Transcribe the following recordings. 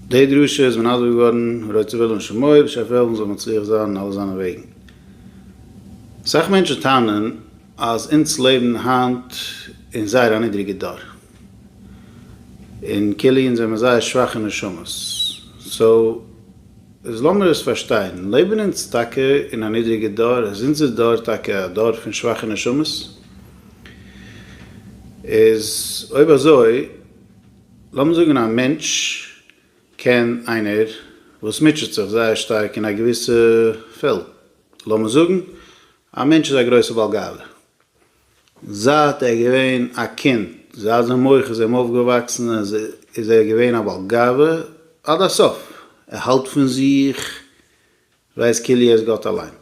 די דרשה איז מנדב געווארן ר' זבולון שמעוי' בשער פעלדן זאל מצליח זיין אין אלע זיינע וועגן. אסאך מענטשן טענה'ן אז אונז לעבן היינט אין זייער א נידריגע דור, און כאילו אונז זעמער זייער שוואכע נשמות, סאו איז לאמיר עס פארשטיין, לעבן אונז טאקע אין א נידריגע דור? איז אונזער דור טאקע א דור פון שוואכע נשמות? איז אויב אזוי, לאמיר זאגן א מענטש קען איינער וואס מוטשעט זיך זייער שטארק אין א געוויסע פעלד, לאמיר זאגן א מענטש איז א גרויסע בעל גאוה, זייט ער איז געווען א קינד, זייט זיין מח איז אים אויפגעוואקסן איז ער געווען א בעל גאוה עד הסוף, ער האלט פון זיך ווייסט כאילו ער איז גאט אליין,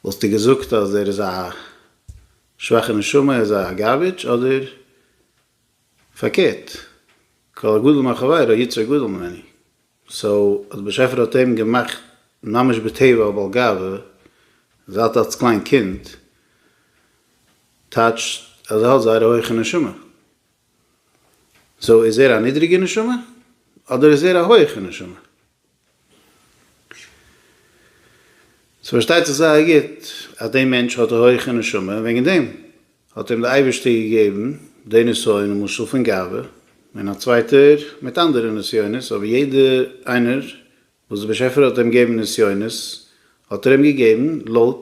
וואלסטו געזאגט אז ער איז א שוואכע נשמה, ער איז א גארבידזש, אדער פארקערט, כל הגדול מחברו היצר גדול ממני, סאו אז דער באשעפער האט אים געמאכט ממש בטבע א בעל גאווה זייט אלס קליין קינד, טייטשט אז ער האט זייער א הויכע נשמה. סאו איז ער א נידריגע נשמה? אדער איז ער א הויכע נשמה? ס'פארשטייט זיך זייער גוט אז די מענטש האט א הויכע נשמה און וועגן דעם האט אים די אייבערשטער געגעבן די נסיון למשל פון גאווה און א צווייטער מיט אנדערע נסיונות אבער יעדע איינער וואס די באשעפער האט אים געבן נסיונות האט ער אים געגעבן לויט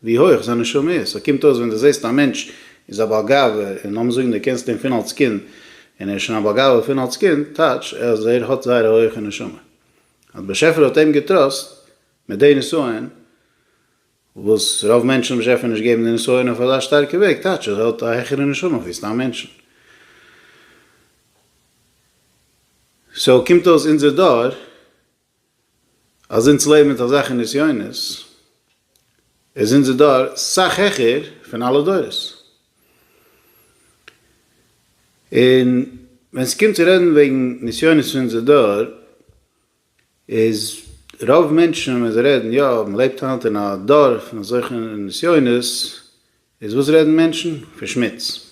ווי הויך זיין נשמה איז. סאו קומט אויס ווען דו זעסט א מענטש איז א בעל גאווה און לאמיר זאגן דו קענסט אים פון אלס קינד און ער איז שוין א בעל גאווה פון אלס קינד טייטש אז ער האט זייער א הויכע נשמה אז באשעפער האט אים געטראסט מיט די נסיון וואס רוב מענטשן האבן באשעפער נישט געבן די נסיון אויף אזא שטארקע וועג טייטש אז ער האט א העכערע נשמה ווי סתם מענטשן. סאו קומט אויס אונזער דור. אז אונז לעבן מיט אזעלכע נסיונות, איז אונזער דור סאך העכער פון אלע דורות. און ווען ס'קומט צו רעדן וועגן נסיונות פון אונזער דור, איז רוב מענטשן ווען זיי רעדן, יא, מ'לעבט היינט אין א דור פון אזעלכע נסיונות, איז וואס רעדן מענטשן? פון שמוץ.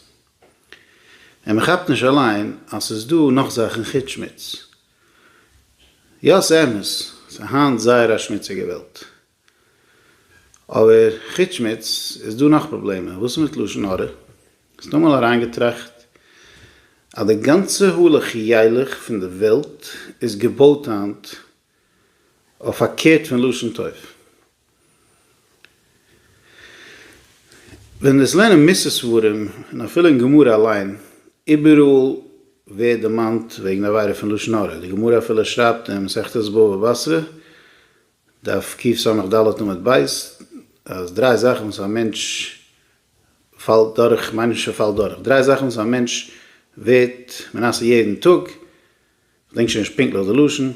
און מען כאפט נישט אליין אז ס'איז דא נאך זאכן חוץ שמוץ. יא ס'אמת, ס'איז היינט זייער א שמוציגע וועלט. אבער חוץ שמוץ איז דא נאך פראבלעמען. וואס איז מיט לשון הרע? האסט אמאל אריינגעטראכט אז די גאנצע הלוך ילך פון די וועלט איז געבויט היינט אויף פארקערט פון לשון טוב. ווען מ'איז לערנען מוסר ספרים, און אפילו אין גמרא אליין, איבעראל ווערט דערמאנט וועגן עבירה פון לשון הרע, די גמרא אפילו שרייבט אין מסכת בבא בתרא, דף קסג ד עמוד ב', אז דריי זאכן וואס א מענטש פאלט דורך, מיינען נישט ער פאלט דורך, דריי זאכן וואס א מענטש ווערט מנסה יעדן טאג, כ'דענק שוין נישט פונקטליך די לשון,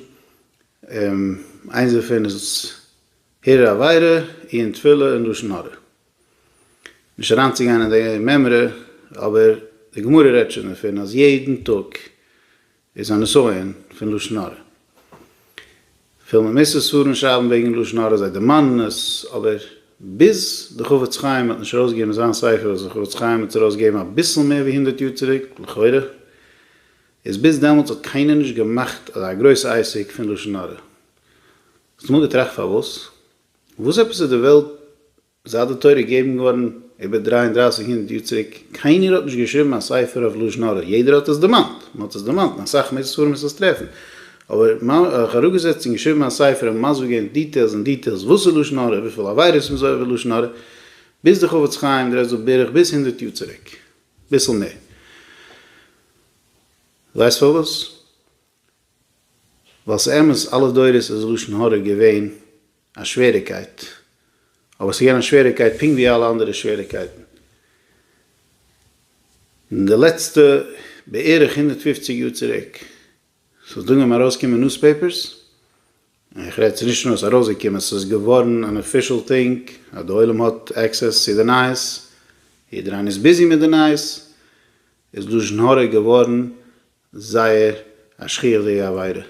איינס דערפון איז הרהור עבירה, עיון תפילה און לשון הרע. נישט אריינצוגיין אין די מימרא, אבער די גמרא רעדט שוין דערפון אז יעדן טאג איז א נסיון פון לשון הרע. כ'פיל מ'מוז עס פארן שרייבן וועגן לשון הרע, זיי דערמאנען עס, אבער ביז די חפץ חיים האט נישט ארויסגעגעבן זיין ספר, וואס די חפץ חיים האט ארויסגעגעבן אביסל מער ווי הונדערט יאר צוריק, לכאורה איז ביז דעמאלטס האט קיינער נישט געמאכט אזא גרויס עסק פון לשון הרע. האסט אמאל געטראכט פארוואס? וואס עפעס איז די וועלט זייט די תורה איז געגעבן געווארן איבער דרײַ און דרײַסיק הונדערט יאר צוריק קיינער האט נישט געשריבן א ספר אויף לשון הרע, יעדער האט עס דערמאנט, מען האט עס דערמאנט אין אסאך מער ספרים וואס וועסט טרעפן, אבער זיך אראפגעזעצט און געשריבן א ספר און מסביר געווען דיטעילס און דיטעילס וואס איז לשון הרע, וויפיל עבירות מען איז עובר לשון הרע, ביז די חפץ חיים דרייט זיך בערך ביז הונדערט יאר צוריק. ביסל מער. ווייסט פארוואס? ווייל ס'אמת אלע דורות איז לשון הרע געווען א שוועריקייט, אבער ס'איז געווען א שוועריקייט פונקט ווי אלע אנדערע שוועריקייטן. אין די לעצטע בערך הונדערט פופציג יאר צוריק, ס'איז דאן געווען ארויסקומען נוספעיפערס, און איך רעד ס'נישט נאר עס ארויסגעקומען ס'איז געווארן אן אפישעל טינג אז די עולם האט עקסעס צו די נייעס, יעדער איינער איז ביזי מיט די נייעס, איז לשון הרע געווארן זייער א שכיח'דיגע עבירה,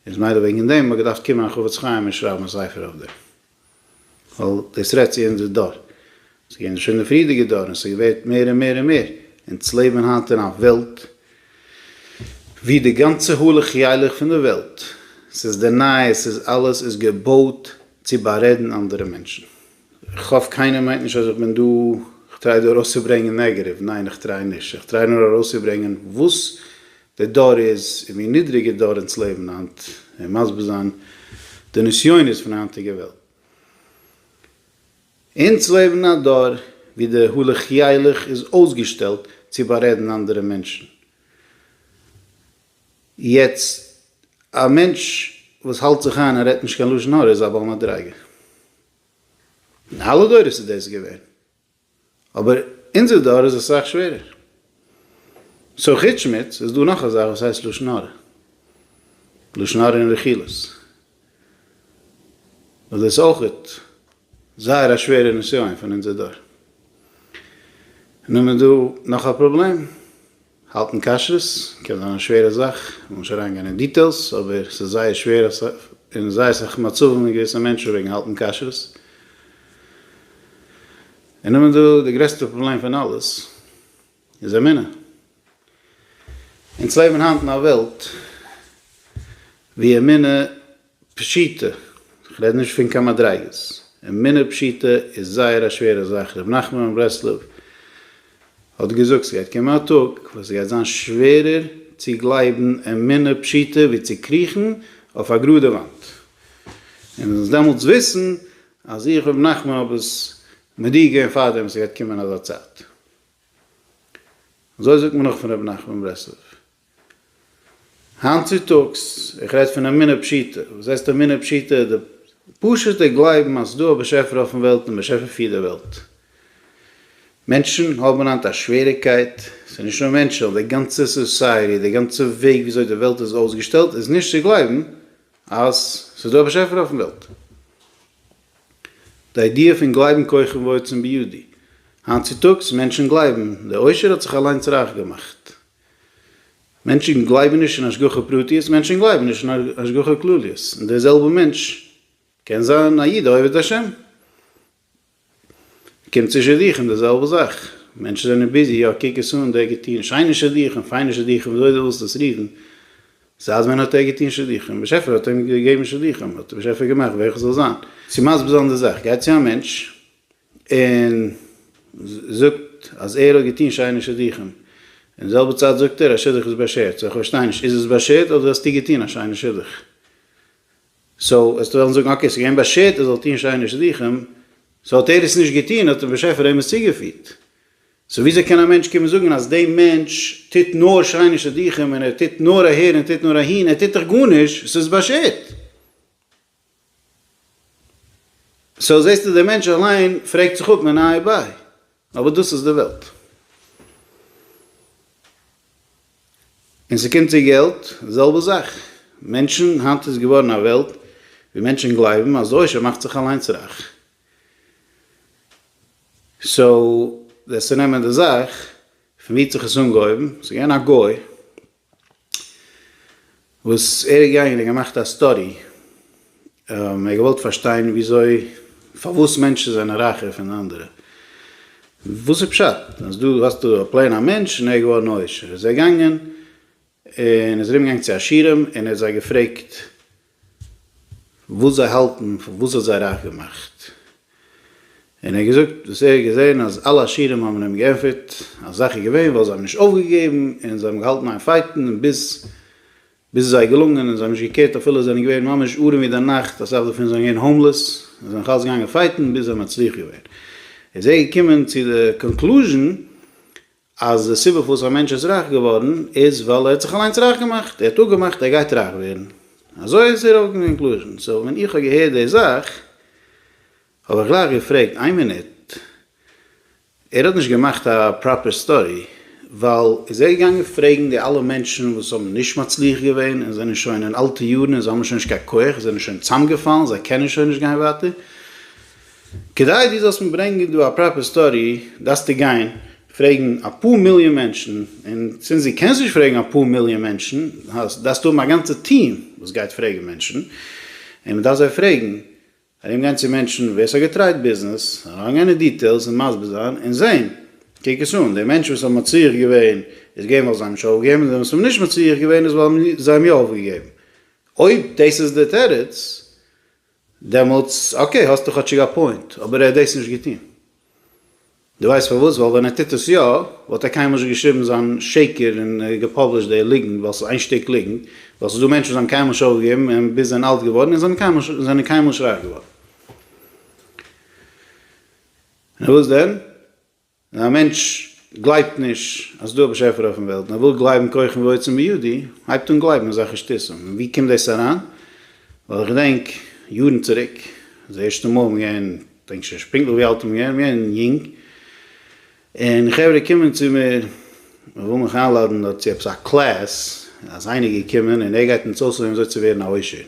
איז מילא וועגן דעם האט געדארפט קומען א חפץ חיים און שרייבן א ספר אויף דעם. ווייל דאס רעדט צו אונזער דור. ס'איז געווען שוין די פריערדיגע דור און ס'ווערט מער און מער און מער. אונז לעבן היינט אין א וועלט ווי די גאנצע הלוך ילך פון די וועלט, ס'איז די נייעס, ס'איז אלעס איז געבויט צו בארעדן אנדערע מענטשן. איך האף קיינער מיינט נישט אז איך בין דא, איך טריי דא ארויסצוברענגען נעגעטיוו, ניין איך טריי נישט, איך טריי נאר ארויסצוברענגען וואס דער דור איז און ווי נידריגער דור אונז לעבן היינט און מסביר זיין די נסיונות פון היינטיגע וועלט. אונז לעבן אין א דור ווי די הלך ילך איז אויסגעשטעלט צו בארעדן אנדערע מענטשן. יעצט א מענטש וואס האלט זיך איין און רעדט נישט קיין לשון הרע איז א בעל מדריגה. אין אלע דורות איז דאס געווען. אבער אונזער דור איז אסאך שווערער. סאו חוץ שמוץ איז דא נאך א זאך וואס הייסט לשון הרע. לשון הרע און רכילות. וואס דאס אויכעט זייער א שווערע נסיון פון אונזער דור. און נאכדעם איז דא נאך א פראבלעם. האלטן כשרות קען זיין א שווערע זאך, מ'וויל נישט אריינגיין אין דיטעילס, אבער ס'איז זייער שווער אין זייער אסאך מצבים אין געוויסע מענטשן וועגן האלטן כשרות. און נאכדעם איז דא די גרעסטע פראבלעם פון אלעס, איז אמונה. אונז לעבן היינט אין א וועלט וואו אמונה פשיטא, איך רעד נישט פון קיין מדריגות, אמונה פשיטא איז זייער א שווערע זאך, רבי נחמן מברסלב האט געזאגט ס'גייט קומען א טאג וואס ס'גייט זיין שווערער צו גלייבן אמונה פשיטא ווי צו קריכן אויף א גראדע וואנט, און מ'זאל דעמאלטס וויסן אז איך רבי נחמן האב עס מודיע געווען פארדעם ס'גייט קומען אזא צייט. אזוי זאגט מען נאך פון רבי נחמן מברסלב. היינט צוטאגס, איך רעד פון אמונה פשוטה, וואס הייסט אמונה פשוטה? די פשוט'ע גלייבן אז ס'דא א באשעפער אויפן וועלט און באשעפער פירט די וועלט. מענטשן האבן היינט א שוועריגקייט, ס'איז נישט נאר מענטשן, די גאנצע סאסייעטי, די גאנצע וועג ווי אזוי די וועלט איז אויסגעשטעלט איז נישט צו גלייבן אז ס'איז דא א באשעפער אויפן וועלט. די איידיע פון גלייבן כוכב ועצם בידי, היינט צוטאגס מענטשן גלייבן, די עושר האט זיך אליינס רייך געמאכט. מענטשן גלייבן נישט אין השגחה פרטיות, מענטשן גלייבן נישט אין השגחה כלליות, און דער זעלבער מענטש קען זיין א איד א עובד השם, קומט צו שידוכים די זעלבע זאך, מענטשן זענען ביזי, יא קוק עס אן, דער האט געטון שיינע שידוכים, פיינע שידוכים, ווי אזוי דו ווילסט עס רופן, זייט ווען האט ער געטון שידוכים, באשעפער האט אים געגעבן שידוכים, האט באשעפער געמאכט ווער איך זאל זיין, צו מסביר זיין די זאך, גייט צו א מענטש, און זאגט אז ער האט געטון שיינע שידוכים, און זעלבע צייט זאגט ער אז שידוך איז באשערט, סאו איך פארשטיי נישט, איז עס באשערט אדער האסטו געטון א שיינע שידוך? סאו וועסטו וועלן זאגן אקעי ס'איז געווען באשערט ער זאל טון שיינע שידוכים, סאו האט ער עס נישט געטון האט דער באשעפער אים עס צוגעפירט, סאו וויאזוי קען א מענטש קומען זאגן אז די מענטש טוט נאר שיינע שידוכים און ער טוט נאר אהער און טוט נאר אהין, ער טוט דאך גארנישט, ס'איז באשערט? סאו זעסטו דער מענטש אליין פרעגט זיך אפ מען איי ביי אבער דאס איז די וועלט און ס'קומט צו געלט די זעלבע זאך מענטשן היינט איז געווארן א וועלט ווי מענטשן גלייבן אז עושר מאכט זיך אליינס רייך סאו וועסטו נעמען די זאך פון ווי האט זיך עס אנגעהויבן ס'איז געווען א גוי. וואס ער איז געגאנגען און געמאכט א סטאדי, ער האט געוואלט פארשטיין וויאזוי, פארוואס מענטשן זענען רייכער פון אנדערע, וואס איז פשט אז דא האסטו א פלעין א מענטש און ער איז געווארן עושר, איז ער געגאנגען און איז ארום געגאנגען צו עשירים און ער האט זיי געפרעגט וואס זיי האלטן פון וואס האט זיי רייך געמאכט, און ער האט געזאגט וואס ער האט געזען אז אלע עשירים האבן אים געענטפערט אז זאך איז געווען ווייל זיי האבן נישט אויפגעגעבן און זיי האבן געהאלטן איין פייטן און ביז ביז עס זיי געלונגען און זיי האבן נישט געקערט אפילו זיי זענען געווען ממש ארעם ווי די נאכט אסאך דערפון זענען געווען האומלעס און זיי זענען נאך אלץ געגאנגען פייטן ביז זיי האבן מצליח געווען איז ער געקומען צו די קאנקלוזשען אז די סיבה פארוואס א מענטש איז רייך געווארן איז ווייל ער האט זיך אליינס רייך געמאכט, ער האט אפגעמאכט ער גייט רייך ווערן, אזוי איז דער קאנקלוזשען, סאו ווען איך האב געהערט די זאך האב איך גלייך געפרעגט איין מינוט, ער האט נישט געמאכט א פראפער סטאדי ווייל. איז ער געגאנגען פרעגן די אלע מענטשן וואס האבן נישט מצליח געווען און זענען שוין אין אלטע יארן און זיי האבן שוין נישט קיין כח זיי זענען שוין צאמגעפאלן זיי קענען שוין נישט גיין ווייטער כדי דו זאלסט מיר ברענגען דא א פראפער סטאדי דארפסטו גיין פרעגן אפאר מיליאן מענטשן, און זינט דו קענסט נישט פרעגן אפאר מיליאן מענטשן, דארפסטו האבן א גאנצע טיעם וואס גייט פרעגן מענטשן, און מען דארף זיי פרעגן, ארום גיין צו מענטשן ווער ס'האט געטרייט ביזנעס, אריין גיין אין דיטעילס און מסביר זיין, און זעהן, קוק עס אן, די מענטשן וואס האבן מצליח געווען איז געווען ווייל זיי האבן נישט אויפגעגעבן, און די וואס האבן נישט מצליח געווען איז ווייל זיי האבן יא אויפגעגעבן. אויב דאס איז די תירוץ, דעמאלטס אקעי האסטו כאטשיג א פוינט, אבער ער האט דאס נישט געטון. דו ווייסט פארוואס? ווייל ווען ער טוט עס יא, וואלט ער קיינמאל נישט געשריבן זיין שקר און געפאבלישט די ליגנט, ווייל ס'איז איין שטיק ליגנט, ווייל ס'איז דא מענטשן וואס האבן קיינמאל נישט אויפגעגעבן און ביז זענען אלט געווארן און זענען קיינמאל זענען קיינמאל נישט רייך געווארן. נו וואס דען? ווען א מענטש גלייבט נישט אז ס'איז דא א באשעפער אויפן וועלט און ער וויל גלייבן ככם ועוצם בידי, הייבט אן גלייבן אזעלכע שטותים. און ווי קומט דאס אריין? ווייל איך געדענק יארן צוריק, די ערשטע מאל מ'איז געווען, כ'דענק שוין נישט פונקטליך ווי אלט מ'איז געווען, מ'איז געווען יונג, און חברה קומען צו מיר, מען וויל מיך איינלאדען דארט צו עפעס א קלעס, אז איינער איז געקומען און ער גייט אונז אויסלערנען וויאזוי צו ווערן א עושר.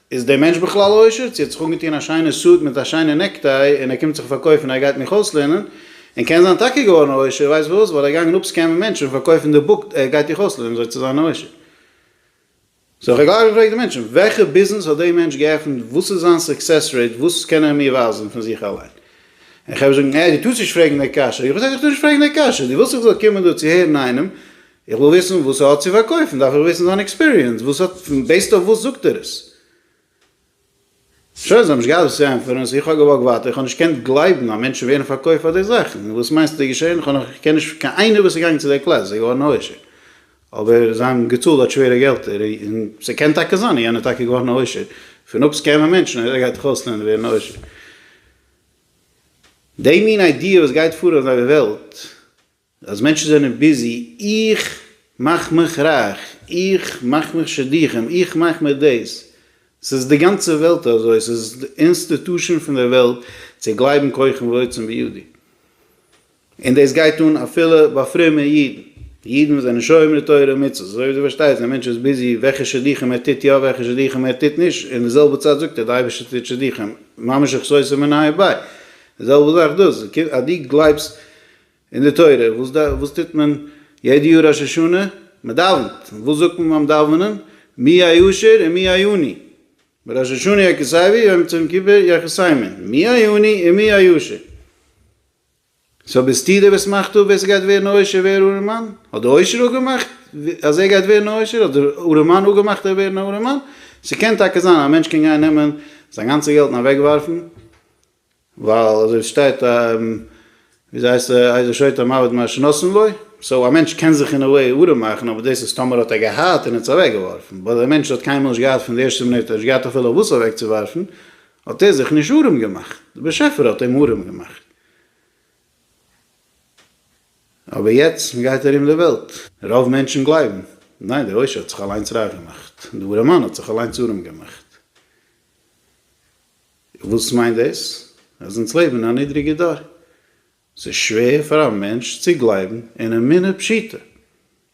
איז דער מענטש בכלל עושר? צו ער האט זיך אנגעטוען א שיינע סוט מיט א שיינע נעקטיי און ער קומט זיך פארקויפן ער גייט מיך אויסלערנען, און קען זיין טאקע געווארן עושר, ווייסט וואס, ווייל ער איז געגאנגען אפסקעמען מענטשן און פארקויפן די בוק ער גייט דיך אויסלערנען וויאזוי צו זיין עושר. סאו כ'האב גלייך געפרעגט די מענטשן, וועלכע ביזנעס האט דער מענטש געעפנט, וואס איז זיין סוקסעס רעיט, וואס קען ער מיר ווייזן פון זיך אליין? און כ'הער זאגן, אה, דו טארסט נישט פרעגן די קשיא. איך האב געזאגט, איך טאר נישט פרעגן די קשיא, דו ווילסט איך זאל קומען דא צו הערן איינעם איך וויל וויסן וואס ער האט צו פארקויפן דארף איך וויסן זיין עקספיריענס וואס האט בעיסד אויף וואס זאגט ער עס? שוין זיי האבן נישט געהאט וואס צו ענטפערן סאו איך האב געוואקט ווייטער איך האב נישט געקענט גלייבן אז מענטשן ווערן פארקויפט פאר די זאכן וואס מיינסטו איז געשען איך האב נאך כ'קען נישט קיין איינער וואס איז געגאנגען צו די קלאס איז געווארן עושר אבער זיי האבן געצאלט אט שווערע געלטער און ס'קען טאקע זיין אז יענער איז טאקע געווארן עושר פון אפ סקעמען מענטשן אז ער גייט דאך אויסלערנען און ווערן עושר די מין איידיע וואס גייט פאר אויף די וועלט. אז מענטשן זענען ביזי, איך מאך מיך רייך, איך מאך מיך שידוכים, איך מאך מיך דאס, ס'איז די גאנצע וועלט אזוי, ס'איז די אינסטיטושען פון דער וועלט צו גלייבן כוחם ועוצם בידי, און דאס גייט אן אפילו ביי פרומע אידן, אידן וואס זענען שומרי תורה ומצוות, אזוי ווי דו פארשטייסט, א מענטש איז ביזי וועלכע שידוכים ער טוט יא, וועלכע שידוכים ער טוט נישט, אין די זעלבע צייט זאגט ער, דער אייבערשטער טוט שידוכים, ממש איך סוסע מנהי ביי, די זעלבע זאך דאס, אז דו גלייבסט אין די תורה וואס ד וואס טוט מען יעדע יאר ראש השנה? מען דאווענט, און וואס זאגט מען ביים דאווענען? מי הישר ומי העני? בראש השנה יחסיווי יום צום כיפור יחסימי, מי העני און מי הישר? סאו ביסטו דער וואס מאכט אפ ווער ס'גייט ווערן א עושר ווער ארעמאן? האט די עושר אפגעמאכט אז ער גייט ווערן א עושר? האט דער ארעמאן אפגעמאכט ער וועט ווערן א ארעמאן? ס'קען טאקע זיין א מענטש קען גיין נעמען זיין גאנצע געלט און אוועקווארפן, ווייל אזוי שטייט ווי אזוי הייסט ער איזה שוטה מוות מה שנתן לו, סאו א מענטש קען זיך אין א וועי ארעם מאכן אבער דאס איז טאמער האט ער געהאט און ער האט עס אוועק געווארפן, באט א מענטש וואס האט קיינמאל נישט געהאט פון די ערשטע מינוט און נישט געהאט אפילו אויף וואס אוועק צו ווארפן האט ער זיך נישט ארעם געמאכט, די באשעפער האט אים ארעם געמאכט. אבער יעצט מען גייט ארום די וועלט רוב מענטשן גלייבן ניין די עושר האט זיך אליינס רייך געמאכט, די ארעמאן האט זיך אליינס ארעם געמאכט. וואס מיינט דאס? אז אונז לעבן אין א נידריגע דור? ס'איז שווער פאר א מענטש צו גלייבן אין אמונה פשוטה.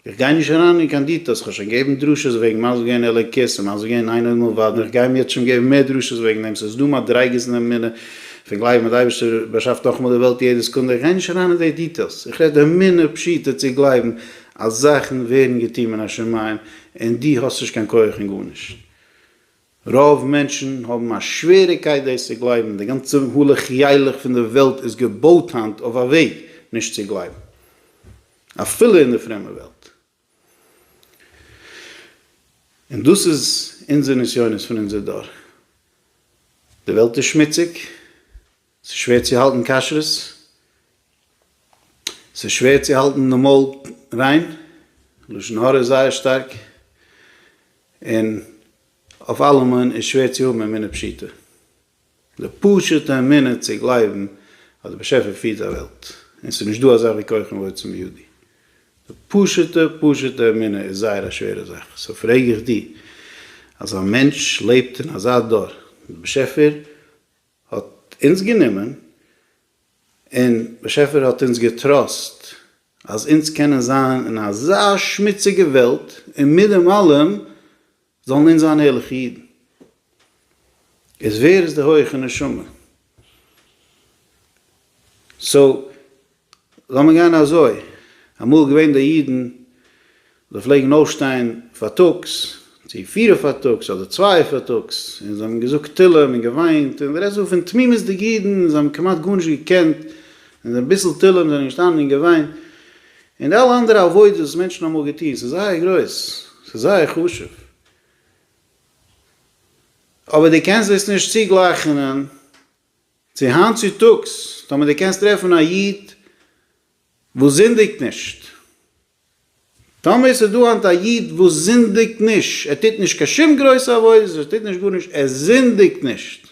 איך גיי נישט אריין אין קיין דיטעלס, כ'האב שוין געבן דרשות וועגן מה זה געווען אלוקית און מה זה געווען אינו עומד לבדו און כ'גיי יעצט שוין געבן מער דרשות וועגן דעם, ס'איז דא מדריגות אין אמונה פון גלייבן אז די אייבערשטער באשאפט נאכאמאל די וועלט יעדע סעקונדע, איך גיי נישט אריין אין די דיטעלס, איך רעד אמונה פשוטה צו גלייבן אז זאכן ווערן געטון מן השמים און דו האסט נישט קיין כח און גארנישט. רוב מענטשן האבן א שוועריקייט דאס צו גלייבן, די גאנצע הלוך ילך פון די וועלט איז געבויט היינט אויף א וועג נישט צו גלייבן, אפילו אין די פרומע וועלט. און דאס איז אונזער נסיונות פון אונזער דור. די וועלט איז שמוציג, ס'איז שווער צו האלטן כשרות? ס'איז שווער צו האלטן די מויל ריין? לשון הרע איז זייער שטארק, און אויף אלעמען איז שווער צו האבן אמונה פשוטה, די פשוט'ע אמונה צו גלייבן אז דער באשעפער פירט א וועלט, און ס'איז נישט דא אזאך ווי כוחם ועוצם ידי, די פשוט'ע פשוט'ע אמונה איז זייער א שווערע זאך, סאו פרעג איך דיר, אז א מענטש לעבט אין אזא דור, דער באשעפער האט אונז גענומען, און באשעפער האט אונז געטראסט אז אונז קענען זיין אין אזא שמוציגע וועלט און מיט דעם אלעם זאלן אונז זיין ערליכע אידן. איז ווער איז די הויעכע נשמה? סאו לאמיר גיין אזוי, אמאל געווען די אידן זיי פלעגן אויפשטיין פארטאגס, צו פיר פארטאגס אדער צוויי פארטאגס, און זיי האבן געזאגט תהלים און געוויינט, און רעדסט דא פון תמימות'דיג אידן, זיי האבן כמעט גארנישט געקענט, און אביסל תהלים זענען געשטאנען און געוויינט, און די אלע אנדערע עבודות וואס מענטשן האבן אמאל געטון, ס'איז זייער גרויס, ס'איז זייער חשוב, אבער דו קענסט דאס נישט צוגלייכענען. צו היינט צו טאגס טאמער דו קענסט טרעפן א איד וואס זינדיגט נישט, טאמער עס איז דא היינט א איד וואס זינדיגט נישט, ער טוט נישט קיין שום גרויסע עבודות, ער טוט נישט גארנישט, ער זינדיגט נישט,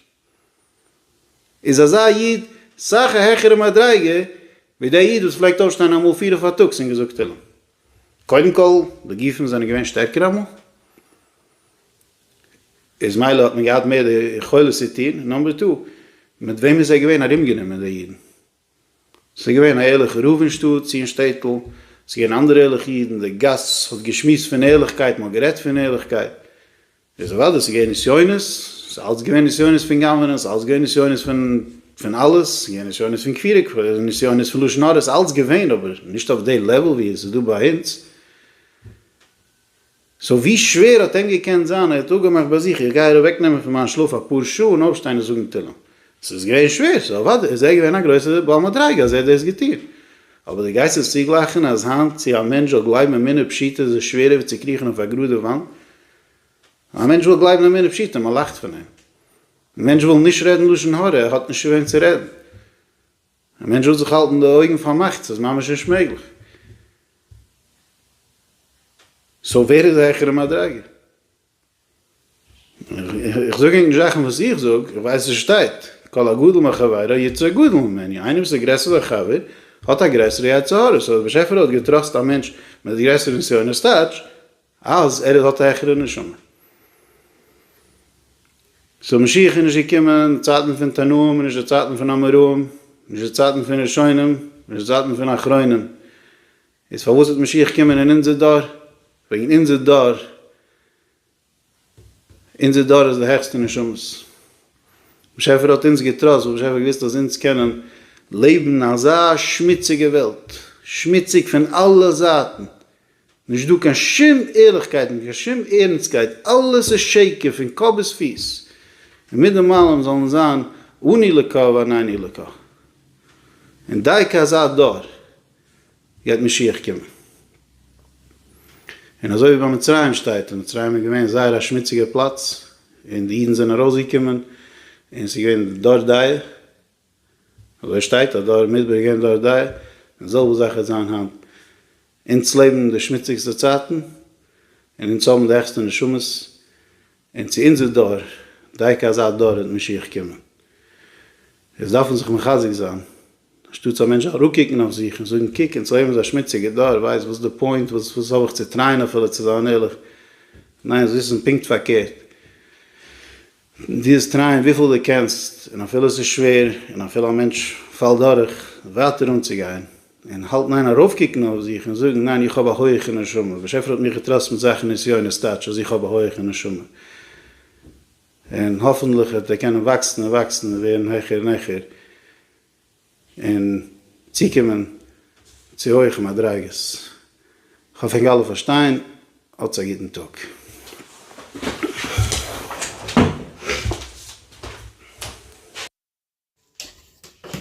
איז אזא איד סאך א העכערע מדריגה ווי דער איד וואס פלעגט אויפשטיין אמאל פיר אויף פארטאגס און געזאגט תהלים. קודם כל, די גופים זענען געווען שטערקער אמאל. איז מילא האט מען געהאט מער די יכולת צו טון, און נאמבער טו, מיט וועם איז ער געווען ארומגענומען די אידן? ס'איז געווען א ערליכע רב אין שטאט צי אין שטעטל, ס'איז געווען אנדערע ערליכע אידן, די גאס האט געשמועסט פון ערליכקייט, מ'האט גערעדט פון ערליכקייט, איז אוודאי ס'איז געווען נסיונות, ס'איז אלץ געווען נסיונות פון גנב'נען, ס'איז אלץ געווען נסיונות פון פון אלעס, ס'איז געווען נסיונות פון כפירה, נסיונות פון לשון הרע, ס'איז אלץ געווען, אבער נישט אויף די לעוול ווי עס איז דא ביי אונז. סאו ווי שווער האט אים געקענט זיין, ער האט אפגעמאכט ביי זיך, איך גיי איר אוועקנעמען פון מיין שלאף אפאר שעה און אויפשטיין און זאגן תהלים. עס איז געווען שווער, סאו אוודאי איז ער געווען א גרויסער בעל מדריגה אז ער האט דאס געטון. אבער דו גייסט עס צוגלייכן אז היינט צו א מענטש זאל גלייבן אמונה פשוטה איז עס שווערער ווי צו קריכן אויף א גראדע וואנט? א מענטש וויל גלייבן אמונה פשוטה, מען לאכט פון אים. מענטש וויל נישט רעדן לשון הרע, ער האט נישט צו וועם צו רעדן. א מענטש וויל זיך האלטן די אויגן פארמאכט, ס'איז ממש נישט מעגליך. סאו ווער איז העכערע מדרגה? איך זאג ענק נישט זאכן וואס איך זאג, איך ווייס וואס שטייט, כל הגדול מחבירו יצא גדול ממנו, איינער וואס איז גרעסער זיין חבר האט א גרעסערע יצר הרע, סאו דער באשעפער האט געטראסט א מענטש מיט גרעסערע נסיונות טייטש, אז ער האט א העכערע נשמה. סאו משיח איז נישט געקומען אין צייטן פון תנאים און נישט אין צייטן פון אמוראים, נישט אין צייטן פון ראשונים, נישט אין צייטן פון אחרונים. איז פארוואס וועט משיח קומען אין אונזער דור? וועגן אונזער דור אונזער דור איז די העכסטע נשמות. באשעפער האט אונז געטראסט ווייל באשעפער האט געוואוסט אז אונז קענען לעבן אין אזא שמוציגע וועלט, שמוציג פון אלע זייטן, נישט דא קיין שום ערליכקייט און קיין שום ערנסטקייט, אלעס איז שקר פון קאפ ביז פיס, און מיט דעם אלעם זאל אונז זיין אני לך ואנני לך. און דייקא אזא דור גייט משיח קומען. און אזוי ווי ביי מצרים שטייט, און מצרים איז געווען זייער א שמוציגער פלאץ, און די אידן זענען ארויסגעקומען, און ס'איז געווען דור דאיה, אזוי שטייט אז דור מדבר איז געווען דור דאיה, די זעלבע זאך וועט זיין היינט. אונז לעבן די שמוציגסטע צייטן, און אונז האבן די העכסטע נשמות, און צו אונזער דור, דייקא אזא דור וועט משיח קומען. איז דארף מען זיך מחזק זיין, אנשטאטס א מענטש אראפקוקן אויף זיך און זאגן קוק אונז לעבן אזא שמוציגע דור, ווייסט וואס איז די פוינט, וואס וואס האב איך צו טרייען אפילו צו זיין ערליך, ניין זיי וויסן פונקט פארקערט, דו טרייען וויפיל דו קענסט און אפילו עס איז שווער און אפילו א מענטש פאלט דורך, ווייטער אנצוגיין, און האלט ניין ארויפקוקן אויף זיך און זאגן ניין איך האב א הויעכע נשמה באשעפער האט מיך געטראסט מיט זאכן נסיונות טייטש אז איך האב א הויעכע נשמה און האפענטליך וועט ער קענען וואקסן און וואקסן און ווערן העכער און העכער און צוקומען צו הויעכע מדריגות כ'האף ענק אלע פארשטיין האטס א גוטן טאג.